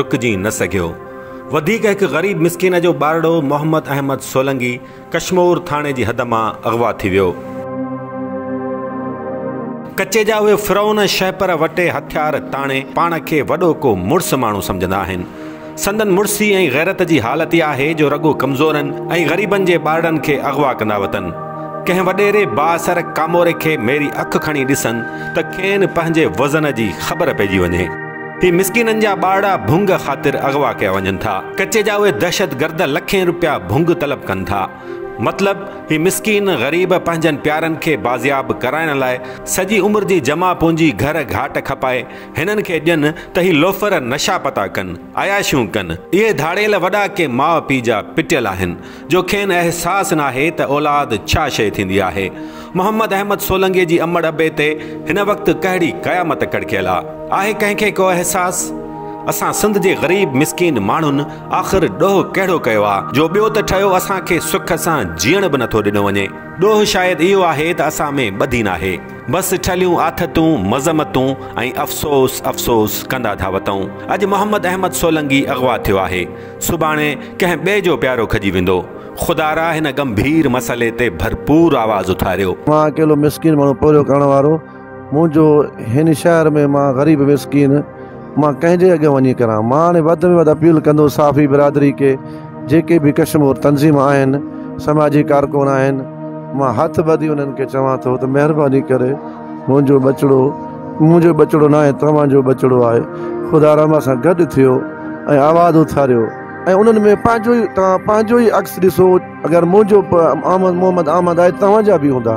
رڪجي نه سگهيو. وڌيڪ هڪ غريب مسڪين جو ٻارڙو محمد احمد سولنگي ڪشمور ٿاڻي جي حد مان اغوا ٿي ويو. ڪچي جا اهي فرعون شهپر وٽي هٿيار تاڻي پاڻ کي وڏو ڪو مڙس ماڻهو سمجهندا آهن. سندن مڙسي ۽ غيرت جي حالت ئي آهي جو رڳو ڪمزورن ۽ غريبن جي ٻارڙن کي اغوا ڪندا وتن. ڪنهن وڏيري بااثر ڪاموري کي ميري اک کڻي ڏسن ته کين پنهنجي وزن جي خبر پئجي وڃي. هي مسڪينن جا ٻارڙا ڀونگ خاطر اغوا ڪيا وڃن ٿا. ڪچي جا اهي دهشت گرد لکين روپيا ڀونگ طلب ڪن ٿا. مطلب هي مسڪين غريب پنهنجن پيارن کي بازياب ڪرائڻ لاء سڄي عمر جي جمع پونجي گهر گهاٽ کپائي هنن کي ڏين ته هي لوفر نشا پتا ڪن، عياشيون ڪن. اهي ڌاڙيل وڏا ڪي ماء پيء جا پٽيل آهن. جو کين احساس ناهي ته اولاد ڇا شيء ٿيندي آهي. محمد احمد سولنگي جي امڙ ابي تي هن وقت ڪهڙي قيامت ڪڙڪيل آ. آهي ڪنهن کي ڪو احساس؟ اسان سنڌ جي غريب مسڪين ماڻهن آخر ڏوهه ڪهڙو ڪيو آ جو ٻيو ته ٺهيو اسان کي سک سان جيئڻ به نٿو ڏنو وڃي. ڏوهه شايد اهو آهي ته اسان ۾ ٻڌي ناهي. بس ٺلهيون آٿتون، مذمتون ۽ افسوس افسوس ڪندا ٿا وتئون. اڄ محمد احمد سولنگي اغوا ٿيو آهي. سڀاڻي ڪنهن ٻئي جو پيارو کڄي ويندو. خدا را هن ڳنڀير مسئلي تي ڀرپور آواز اٿاريو. مان اڪيلو مسڪين ماڻهو پورهيو ڪرڻ وارو منهنجو هن شهر ۾ مان غريب مسڪين مان ڪنهن جي اڳيان وڃي ڪران مان هاڻي وڌ ۾ وڌ اپيل ڪندو صحافي برادري کي جيڪي به ڪشمور تنظيم آهن سماجي ڪارڪن آهن مان هٿ ٻڌي انهن کي چوان ٿو ته مهرباني ڪري منهنجو ٻچڙو منهنجو ٻچڙو ناهي توهان جو ٻچڙو آهي خدا رحمان سان گڏ ٿيو ۽ آواز اٿاريو ۽ انهن ۾ پنهنجو ئي توهان پنهنجو ئي عڪس ڏسو اگر منهنجو احمد محمد احمد آهي توهان جا به هوندا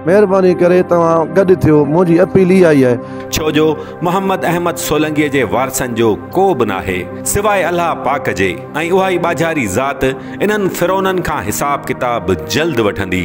مهرباني ڪري توهان گڏ ٿيو منهنجي اپيل اها ئي آهي. ڇو جو محمد احمد سولنگيء جي وارثن جو ڪو به ناهي سواء الله پاڪ جي ۽ اها ئي ٻاجهاري ذات انهن فرعونن کان حساب ڪتاب جلد وٺندي.